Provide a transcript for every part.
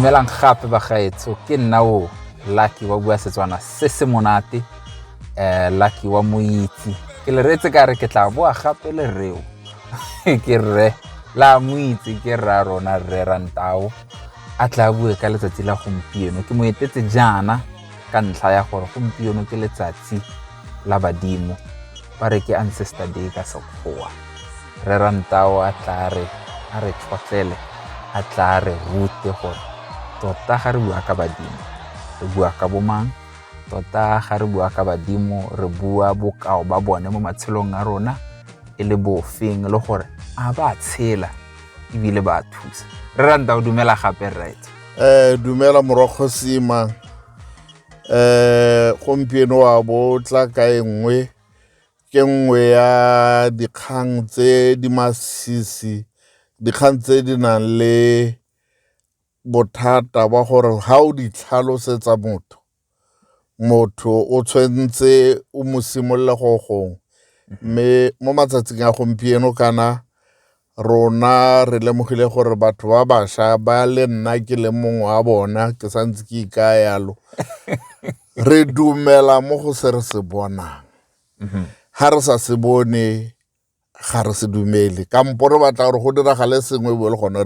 dumelang gape bagaetsho ke nna o lucky wa bua setswana se se monate um lucky wa moitse ke le reetse ka re ke tla boa gape le reo ke rre la mo itse ke rra rona rre rantao a tla bue ka letsatsi la gompieno ke mo etetse jaana ka ntlha ya gore gompieno ke letsatsi la badimo ba re ke ancestor day ka sekgowa rre rantao a tla re a re tlhotlele a tla re rute gore tota ga re bua ka badimo re bua ka bomang tota ga re bua ka badimo re bua bokao ba bone mo matshelong a rona e le bofeng le gore a ba tshela ebile ba thusa re ranta o dumela gape right eh dumela morogo sima eh gompieno wa bo tla ka e nngwe ke nngwe ya dikgang tse di masisi dikgang tse di nang le bothata ba gore ha o di tlhalosetsa motho motho o tshwentse o mo simolola go gongwe mme mo matsatsing a gompieno kana rona re lemogile gore batho ba basha ba le nna ke le mongwe wa bona ke santse ke ikaya yalo re dumela mo go se re se bonang ha re sa se bone ga re se dumele kampo re batla gore go diragale sengwe bo le gone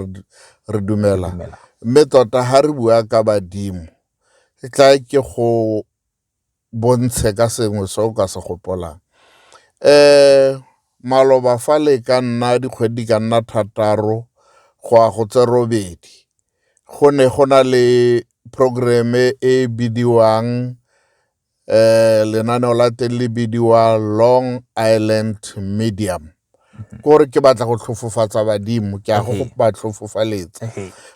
re dumela mme tota ga re bua ka badimo e tla ke go bontshe ka sengwe se o ka se gopolang um maloba fa le ka nna dikgwedi di ka nna thataro go ya go tse robedi go ne go na le programme e bidiwang eh lenaneo la teng le bidiwa long island medium mhm. kore ke batla go tlhofofatsa badimo ke a go ba tlhofofaletsa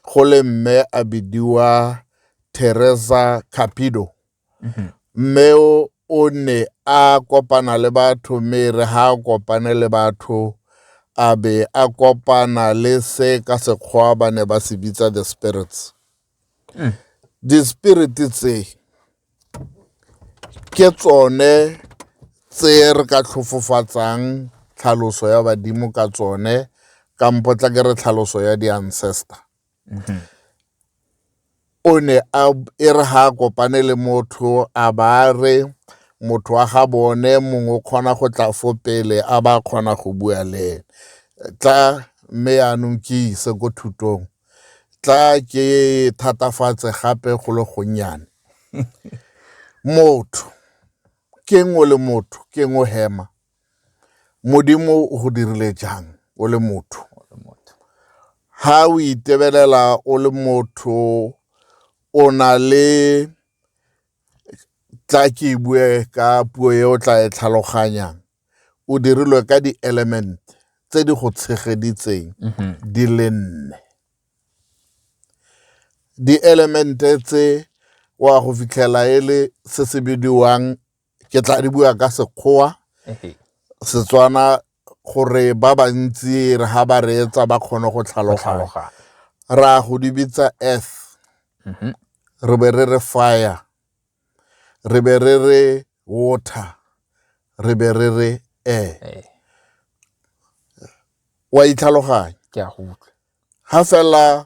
go le mme a bidiwa teresa capido mhm. mme o ne a kopana le batho mme re ha a kopane le batho a be a kopana le se ka sekgwa ba ne ba se bitsa the spirits mm. di-spirit tse ke tsone tse re ka tlhofofatsang tlhaloso ya badimo ka tsone kampo tla ke re tlhaloso ya di-ancestor mm-hmm. o ne a e re ga a kopane le motho a ba re motho wa ga bone mongwe o kgona go tla fo pele a ba kgona go bua le ene tla mme yaanong ke ise ko thutong tla ke thatafatse gape go le gonnyane motho ke ngwe le motho ke ngwe hema modimo o go dirile jang o le motho ha o itebelela o le motho o na le tla ke bue ka puo e o tla e tlhaloganyang o dirilwe ka dielemente tse di go tshegeditseng mhm. di le nne dielemente tse wa go fitlhela e le se se bidiwang ke tla di bua ka sekgowa setswana gore ba bantsi re ga ba reetsa ba kgone go tlhaloganya ra go di bitsa earth mhm. re be re re fire re be re re water re be re re air eh, wa itlhaloganya ke a go utlwa ha fela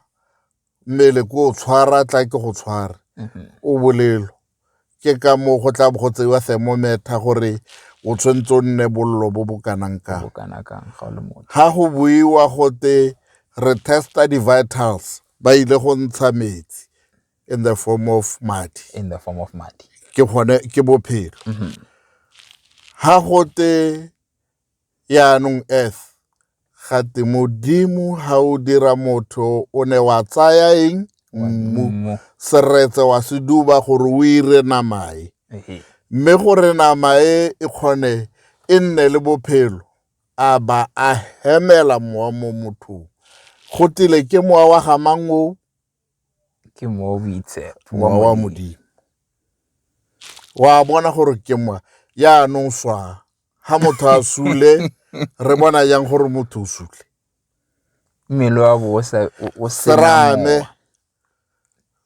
mmele ko o tshwara tla ke go tshware Mhm. o bolelo ke ka moo go tla bo go tseiwa thermometer gore o tshwanetse o nne bollo bo bo kanang kang bo kana kang ga o le motho ha go buiwa gote re testa di-vitals ba ile go ntsha metsi in the form of madi in the form of madi ke gone ke bophelo mm-hmm. ha gote yaanong earth gate modimo ha o dira motho o ne wa tsaya eng mmu seretse wa se duba gore o ire namae mme gore namae e kgone e nne le bophelo a ba a hemela mowa mo mothong go tile ke mowa wa gamango ke mwa o boitse wa wa modimo wa bona gore ke mwa yaanong swa ga motho a sule re bona yang gore motho o sule mmele wa bo o serame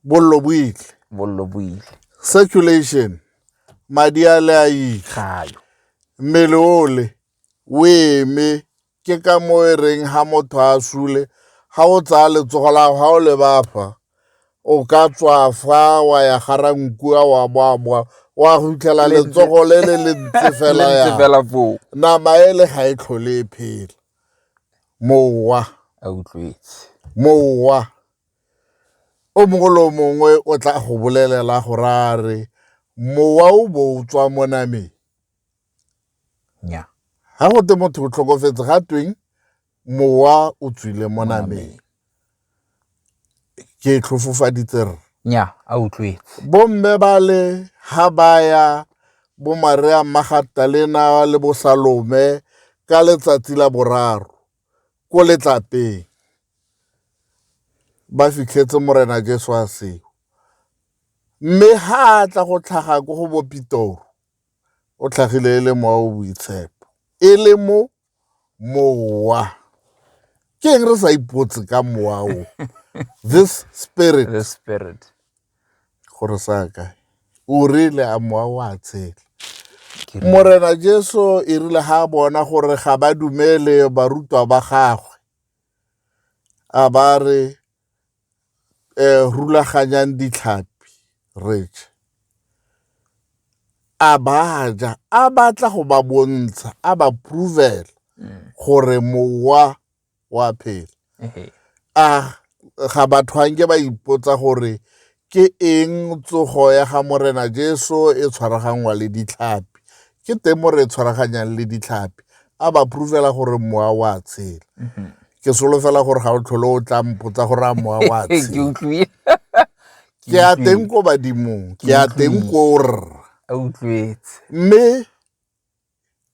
bollo bo itle bollo bo ile circulation madi a le a ile gayo mmele ole o eme ke ka mo e reng ha motho a sule ha o tsaya letsogo la ga o le bafa o ka tswa fa wa ya gara nkua wa boaboa wa go fitlhela letsogo le le le ntse fela ya fela foo nama e le ga e tlhole e phela mowa a utlwetse mowa o mongwe le o mongwe o tla go bolelela go ra re mowa o bo o tswa mo nameng nya ga go te motho o tlhokofetse ga tweng mowa o tswile mo nameng ke tlhofofaditse re nya a utlwetse bomme ba le ga baya bomaria magatalena le bosalome ka letsatsi la boraro ko letlapeng ba fitlhetse morena jesu a seo mme ga a tla go tlhaga ko go bopitoro o tlhagile e le mowa o boitshepo e le mo mowa ke eng re sa ipotse ka mowa o this spirit the spirit gore sa kae o rile a mowa o a tshela morena jesu e rile ga a bona gore ga ba dumele barutwa ba gagwe a ba re um rulaganyang ditlhapi rich a baja a batla go ba bontsha a ba provela gore mowa wa phela a ga batho anke ba ipotsa gore Ke eng tsogo ya ga Morena Jesu e tshwaraganngwa le ditlhapi? Ke teng mo re e tshwaraganyang le ditlhapi. A ba proofela gore mowa wa tshela. Mm-hmm. Ke solofela gore ga o tlhole o tla mpotsa gore a mowa wa tshela. Ke a teng ko badimong, ke a teng ko rra. Mme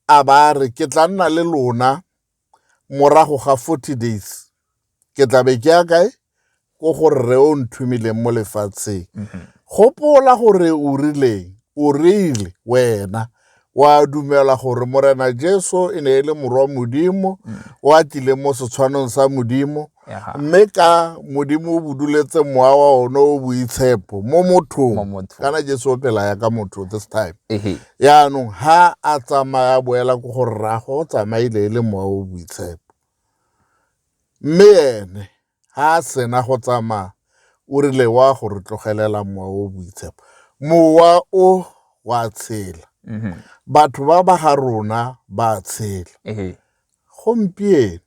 a ba a re ke tla nna le lona morago ga 40 days ke tla be ke ya kae ko go rre o nthumileng mo lefatsheng mm-hmm. gopola gore o rileng o rile wena wa dumela gore morena jesu e ne e le morwa modimo mm. o atlile mo setshwanong sa modimo mme ka modimo o buduletse mowa wa one o boitshepo mo mothong kana jesu o phela ya ka motho this time yaanong ha a tsamaya boela ko go rrago o tsamaile e le mowa o boitshepo mme ene ha a sena go tsamaya o rile wa go re tlogelela mowa o boitshepo mowa o wa tshela mm-hmm. batho ba ba ga rona ba tshela gompieno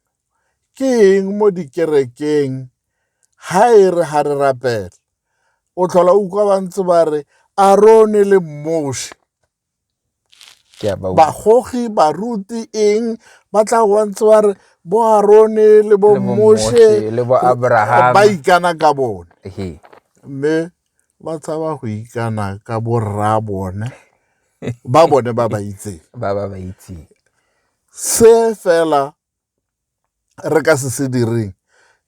ke eng mo dikerekeng ha e re ha re rapela o tlhola utlwa ba ntse ba re arone le moshe bagogi baruti eng ba tla go ba ntse ba re bo arone le bo moshe ba ikana ka bone mme ba tshaba go ikana ka borra bone ba bone ba ba itseng ba ba ba itseng se fela re ka se se direng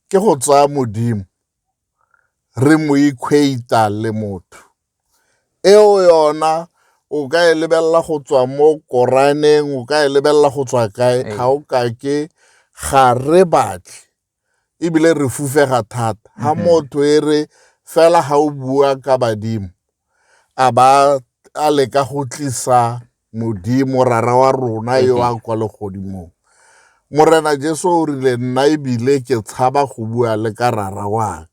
ke go tsaya modimo re mo equata le motho eo yona o ka e lebelela go tswa mo koraneng o ka e lebelela go tswa kae ga o kake ga re batle ebile re fufega thata ha mm-hmm. motho e re fela ha o bua ka badimo a ba a leka go tlisa modimo rara wa rona yo a kwa legodimong morena jesu o rile nna ebile ke tshaba go bua le ka rara waka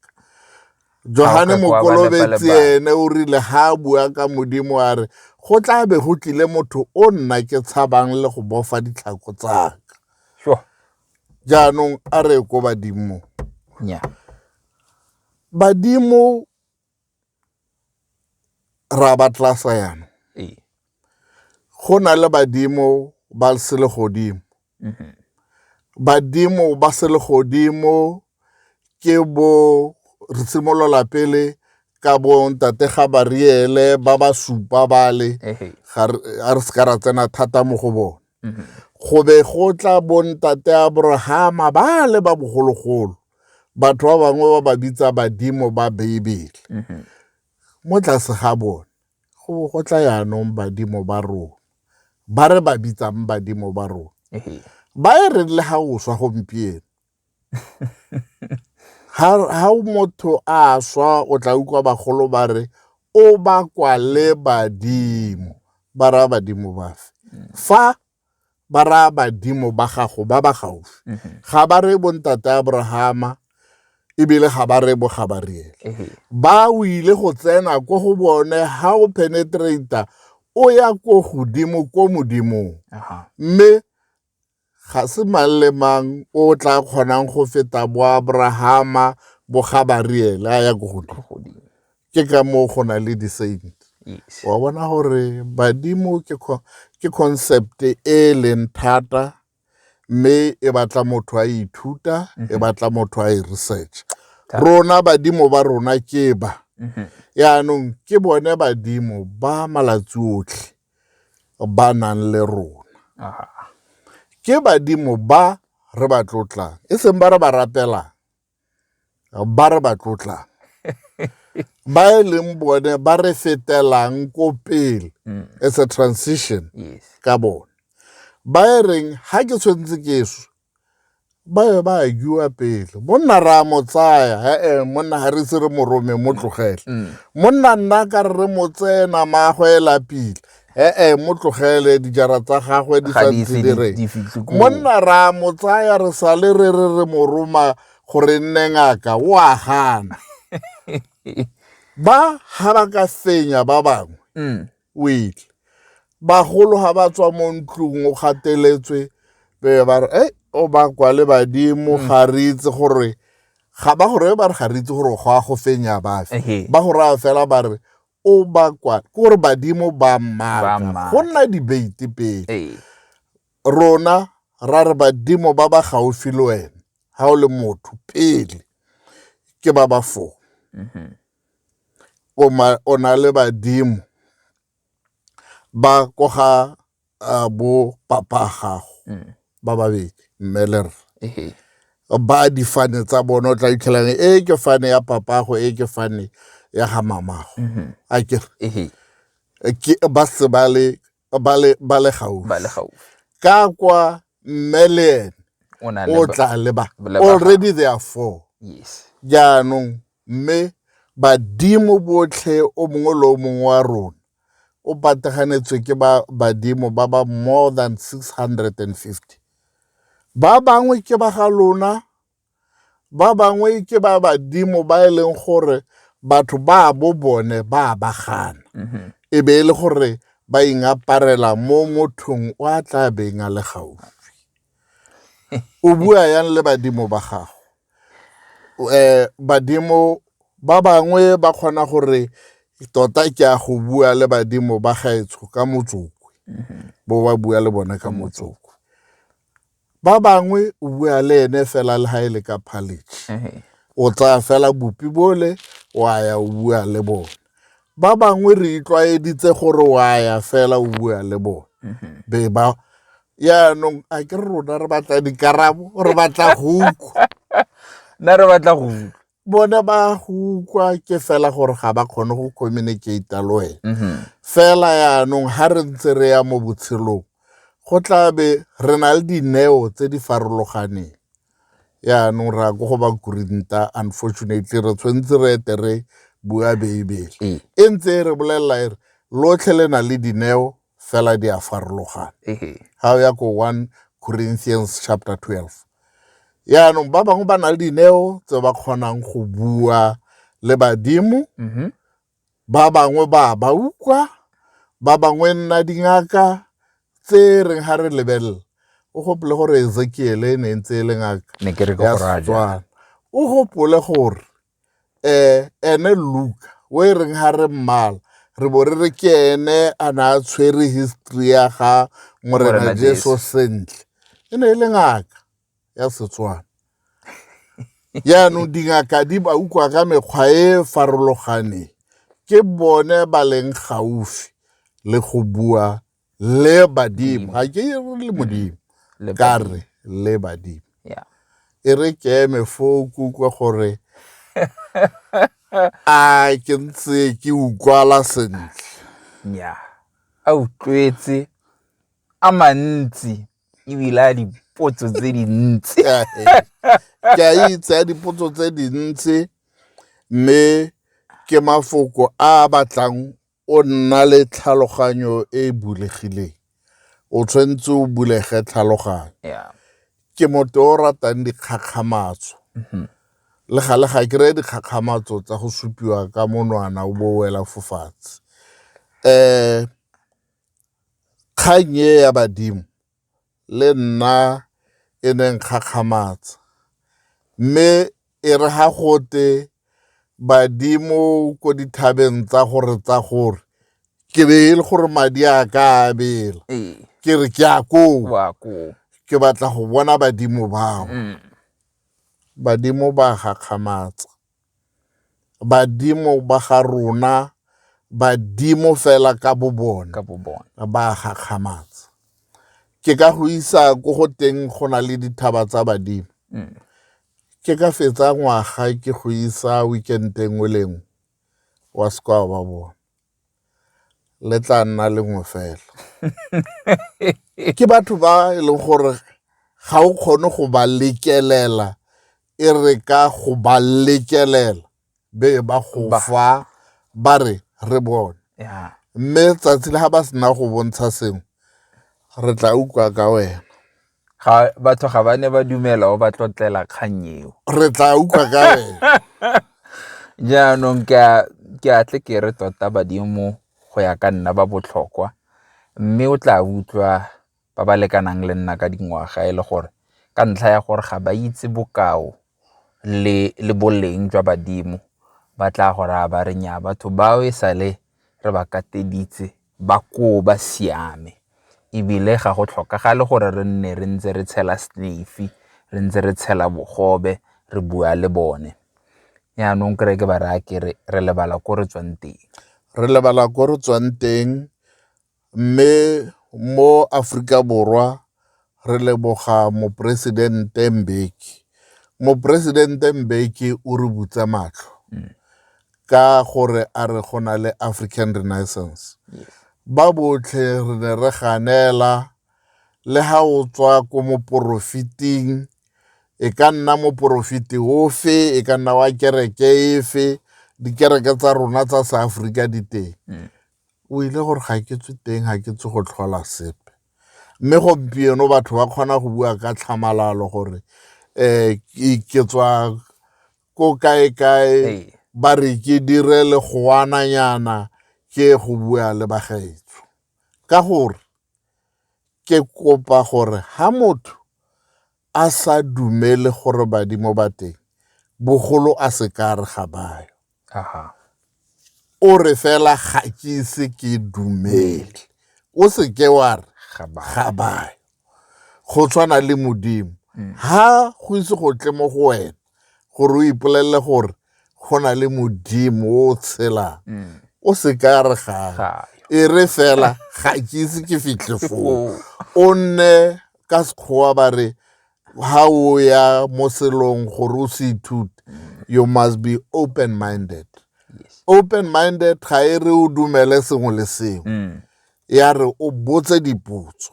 johane mokolobetsi ene o rile ha a bua ka modimo a re go tla be go tlile motho o nna ke tshabang le go bofa ditlhako tsaka jaanong a re ko badimo nya badimo ra ba tlasa yana go na le badimo ba se le godimo mhm. badimo ba se le godimo ke bo re simolola pele ka bo ntate ga bariele ba ba supa bale a re se ka ra tsena thata mo go bone Mhm. go be go tla bontate abrahama ba le ba bogologolo batho ba bangwe ba ba bitsa badimo ba beibele mhm. mo tlase ga bone go bo go tla yaanong badimo ba rona ba re ba bitsang badimo ba rona ba e re le ga o swa gompieno ha ha motho a swa o tla utlwa bagolo ba re o bakwa le badimo ba raya badimo bafe fa ba raya badimo ba gago ba ba gaufi mhm. ga ba re bontate abrahama ebile ga ba re bogabariele mhm. ba o ile go tsena ko go bone ha o penetrata o ya ko godimo ko modimong mme Ga se mang le mang o o tla kgonang go feta boabrahama bogabareel a ya ko godimo ke ka moo go na le di-saint wa bona gore badimo ke concept e e leng thata mme e batla motho a ithuta e mhm. batla motho a e research rona badimo ba rona ke ba mhm. yaanong ke bone badimo ba malatsi otlhe ba nang le rona ke badimo ba re ba tlotlang e seng ba re ba rapelang ba re ba tlotlang ba e leng bone ba re fetelang ko pele mm. as a transition ka bone ba e reng ha ke tshwanetse ke swe ba be ba agiwa pele monna ra mo tsaya ee monna ga re se re morome mo tlogele mm. monna nna ka re re mo tsena maagwe e lapile ee mo tlogele dijara tsa gagwe di santse di re monna ra mo tsaya re sale re re re mo roma gore nne ngaka o a gana ba ga ba ka fenya ba bangwe mm. o etle bagolo ga ba tswa mo ntlong o gateletswe be ba re e o ba kwa le badimo mm. ga re itse gore ga ba gore ba re ga re itse gore go a go fenya bafe ba go raya fela ba re o ba kwa ke gore badimo ba mmaka go nna debate pele rona ra re badimo ba ba gaufi le wena ga o le motho pele ke ba ba foo mm-hmm. o na le badimo ba ko ga uh, bo papa gago mm. ba babedi mme le rre ba difane tsa bone o tla itlhelang e ke fane ya papago e ke fane ya ga mamago mm-hmm. a kere ba se ba le ba le ba le gaufi ba le gaufi ka kwa mme le ene o na le o ba- tla leba le ba- already there are four yes jaanong mme badimo botlhe o mongwe le o mongwe wa rona o pataganetswe ke ba badimo ba ba more than 650 ba bangwe ke ba ga lona ba bangwe ke ba badimo ba e leng gore batho ba bo bone ba ba gana mm-hmm. e be e le gore ba ingaparela mo mothong o a tla beng a le gaufi o bua yang le badimo ba gago um eh, badimo ba bangwe ba kgona gore tota ke a go bua le badimo ba gaetsho ka motsokwe mm-hmm. bo ba bua le bone ka motsokwe ba bangwe o bua le ene fela le ha e le ka phaletšhe eh. o tsaya fela bopi bole wa ya o bua le bone ba bangwe re itlwaeditse gore wa ya fela o bua le bone mhm. be ba yaanong a ke re rona re batla dikarabo re batla go utlwa nna re batla go utlwa bone ba go ukwa ke fela gore ga ba kgone go communicate le wena mm-hmm. fela yaanong ga re ntse re ya mo botshelong go tla be re na le dineo tse di farologaneng yaanong re ya ko go ba kurinta unfortunately re tshwanetse re ete re bua beibele ee. e ntse e re bolelela e re lotlhe le na le dineo fela di a farologana ga o ya ko one corinthians chapter 12 yaanong ba bangwe ba na le dineo tse ba kgonang go bua le badimo mm-hmm. ba bangwe ba ba utlwa ba bangwe nna dingaka tse reng ga re lebelela o gopole gore ezekiele e ne ntse e le ngaka ya setswana o gopole gore ene Luka o e reng ga re mmala re bo re re ke ene a ne a tshwere history ya ga morena jeso sentle e ne e le ngaka ya setswana jaanong dingaka di ba utlwa ka mekgwa e e farologaneng ke bone ba leng gaufi le go bua le badimo ga ke re le modimo Le ka re le badimo Yeah. e re ke eme fo ke utlwa gore a ke ntse ke utlwala sentle nya a utlwetse a mantsi ebile a dipotso tse dintsi Ka he, ke a itse ya dipotso tse dintsi mme ke mafoko a a batlang o nna le tlhaloganyo e e bulegileng o tshwanetse o bulege tlhaloganyo yeah ke motho o ratang dikgakgamatso mm-hmm. le gale ga ke reye dikgakgamatso tsa go supiwa ka monwana o bo wela fofatshe um kgang e ya badimo le nna e ne nkgakgamatsa. Mme e re ga gote badimo ko dithabeng tsa gore tsa gore ke be e le gore madi a ka a bela ke re ke a koo ke batla go bona badimo bao. Badimo ba gakgamatsa. badimo ba ga rona badimo fela ka bo bone ka bo bone ba gakgamatsa ke ka go isa ko go teng go na le dithaba tsa badimo mm. ke ka fetsa ngwaga ke go isa weekend e nngwe le nngwe wa sekwa ba bone le tla nna lengwe fela ke batho ba e leng gore ga o kgone go ba lekelela e re ka go ba lekelela be ba go Ba- fa ba re re bone ya mme tsatsi le ga ba sena go bontsha sengwe re tla utlwa ka wena ga batho ga ba ne ba dumela o ba tlotlela kgang eo re tla utlwa ka wena jaanong ke a- ke a tle ke re tota badimo go ya ka nna ba botlhokwa mme o tla utlwa ba ba lekanang le nna ka dingwaga e le gore ka ntlha ya gore ga ba itse bokao le boleng jwa badimo ba tla go raya ba re nya batho bao e sale re ba kateditse ba koo ba siame ebile ga go tlhokagale gore re nne re ntse re tshela snefi re ntse re tshela bogobe re bua le bone yaanong kry ke ba raya kere re lebala ko re tswang teng re lebala ko re tswang teng Mme mo Aforika Borwa re leboga Moporesidente Mbeki. Moporesidente Mbeki o re butse matlho ka gore a re go na le African Renaissance. Ba botlhe re ne re ganela le ha o tswa ko moporofiting, e ka nna moporofiti ofe, e ka nna wa kereke efe, dikereke tsa rona tsa seAforika di teng. o ile gore ga ke tswe teng ga ke tswe go tlhola sepe mme gompieno batho ba kgona go bua ka tlhamalalo gore um ke tswa ko kae-kae ba re ke dire le goananyana ke go bua le bagaetso ka gore ke kopa gore ha motho a sa dumele gore badimo ba teng bogolo a se ka re ga bayo o re fela ga ke ise ke dumele o se ke wa re ga bayo go tshwana le modimo ha go ise go tle mo go wena gore o ipolelele gore go na le modimo o tshelang o se ka re ga e re fela ga ke ise ke fitlhe foo o nne ka sekgowa ba re ha o ya mo selong gore o se ithute you must be open minded open minded ga e re o dumele sengwe le sengwe mm. ya re o botse dipotso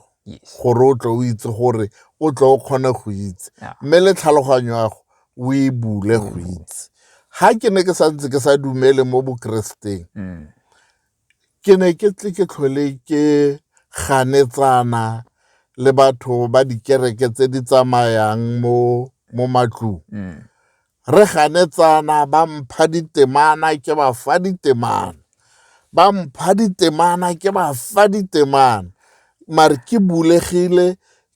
gore o tle o itse gore o tle o kgone go itse mme le tlhaloganyo yago o e bule go mm. itse ga ke ne ke santse ke sa dumele mo bokereseteng mm. Ke ne ke tle ke tlhole ke ganetsana le batho ba dikereke tse di tsamayang mo mo matlong. Mm. Re ganetsana ba mpha ditemana ke ba fa ditemana. Ba mpha ditemana ke ba fa ditemana. Mare ke bulegile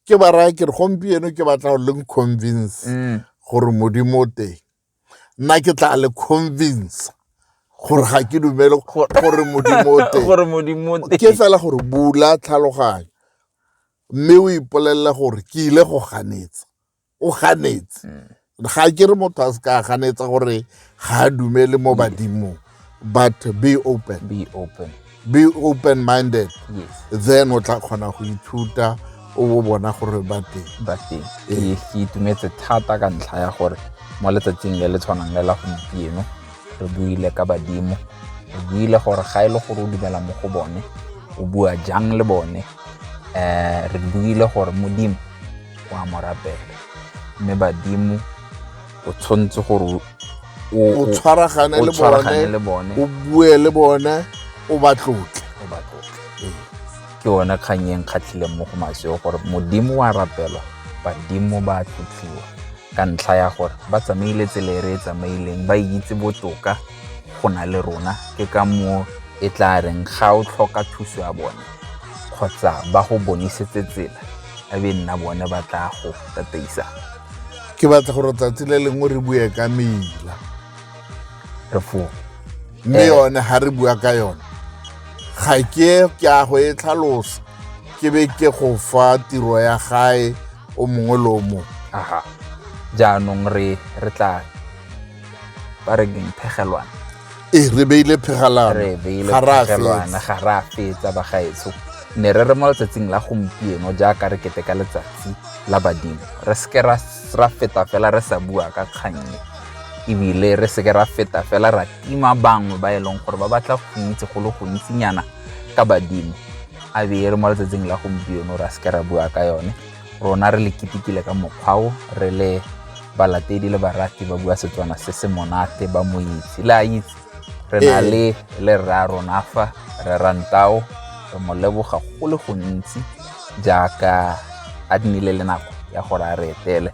ke ba raya ke re gompieno ke batla go leng convince mm. gore modimo o teng. nna ke tla le convince gore ga ke dumele gore modimo o teng gore modimo o teng ke fela gore bula tlhaloganyo mme o ipolelela gore ke ile go ganetsa o ganetse mm. ga ke re motho a se ka ganetsa gore ga a dumele mo badimong but be open be open be open minded yes. then o tla kgona go ithuta o bo bona gore ba teng ba teng ee. ke itumetse thata ka ntlha ya gore mo letsatsing le le tshwanang le la gompieno re buile ka badimo re buile gore ga e le gore o dumela mo go bone o bua jang le bone um re buile gore modimo o a mo rapela mme badimo o tshwanetse gore o tshwaragane le bone o bue le bone o ba tlotle ee. ke yone kgang e nkgatlhileng mo go maseo gore modimo wa rapelwa badimo ba tlotliwa ka ntlha ya gore ba tsamaile tsela e re e tsamaileng ba itse botoka go na le rona ke ka moo e tla reng ga o tlhoka thuso ya bone kgotsa ba go bonisetse tsela a be nna bone ba tla go tataisa ke batla gore tsatsi le lengwe re bue ka mela tefong mme eh. yone ga re bua ka yone ga ke ke a go e tlhalosa ke be ke go fa tiro ya gae o mongwe le o mongwe aha jaanong re re tla ba re keng phegelwana ee re beile phegalano re beile ga ra phegelwana fetsa. ga re a fetsa bagaetsho ne re re mo letsatsing la gompieno jaaka re kete ka letsatsi la badimo re seke ra ra feta fela re sa bua ka kgannye ebile re seke ra feta fela ra tima bangwe ba e leng gore ba batla go itse go le gontsinyana ka badimo a be e re mo letsatsing la gompieno ra seke ra bua ka yone rona re le kitikile ka mokgwao re le balatedi le barati ba bua setswana se se monate ba mo itse le a itse re na Ee. le le rra rona fa re rantao re mo leboga go le gontsi jaaka a nnile le nako ya gore a re etele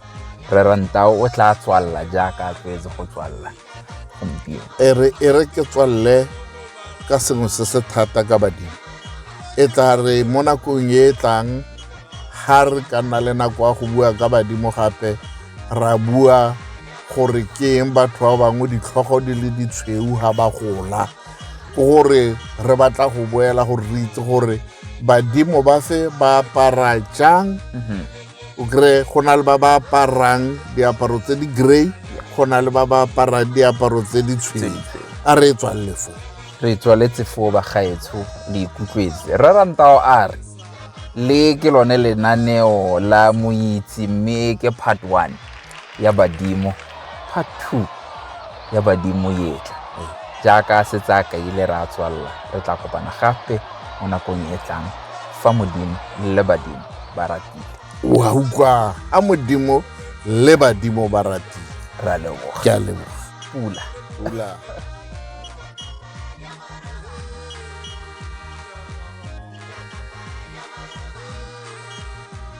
re rantao o tla tswalela jaaka a tlwaetse go tswalela gompieno e re e re ke tswalle ka sengwe se se thata ka badimo e tla re mo nakong e e tlang ga re ka nna le nako ya go bua ka badimo gape ra bua gore ke eng batho ba bangwe ditlhogo di le ditshweu ga ba gola gore re batla go boela gore re itse gore badimo ba fe ba apara jang mhm. o kry go na le ba ba aparang diaparo tse di gray go na le ba ba aparang diaparo tse di tshweu a re e tswalele foo re tswaletse foo bagaetsho le ikutlwetse rre rantao a re le ke lone lenaneo la moitse mme ke part one ya badimo fa thu ya badimo etla jaaka se tsa kaile re a tswalela re tla kopana gape mo nakong e tlang fa modimo le badimo ba ratile wa utlwa a modimo le badimo ba ratile ra leboga ke a leboga pula pula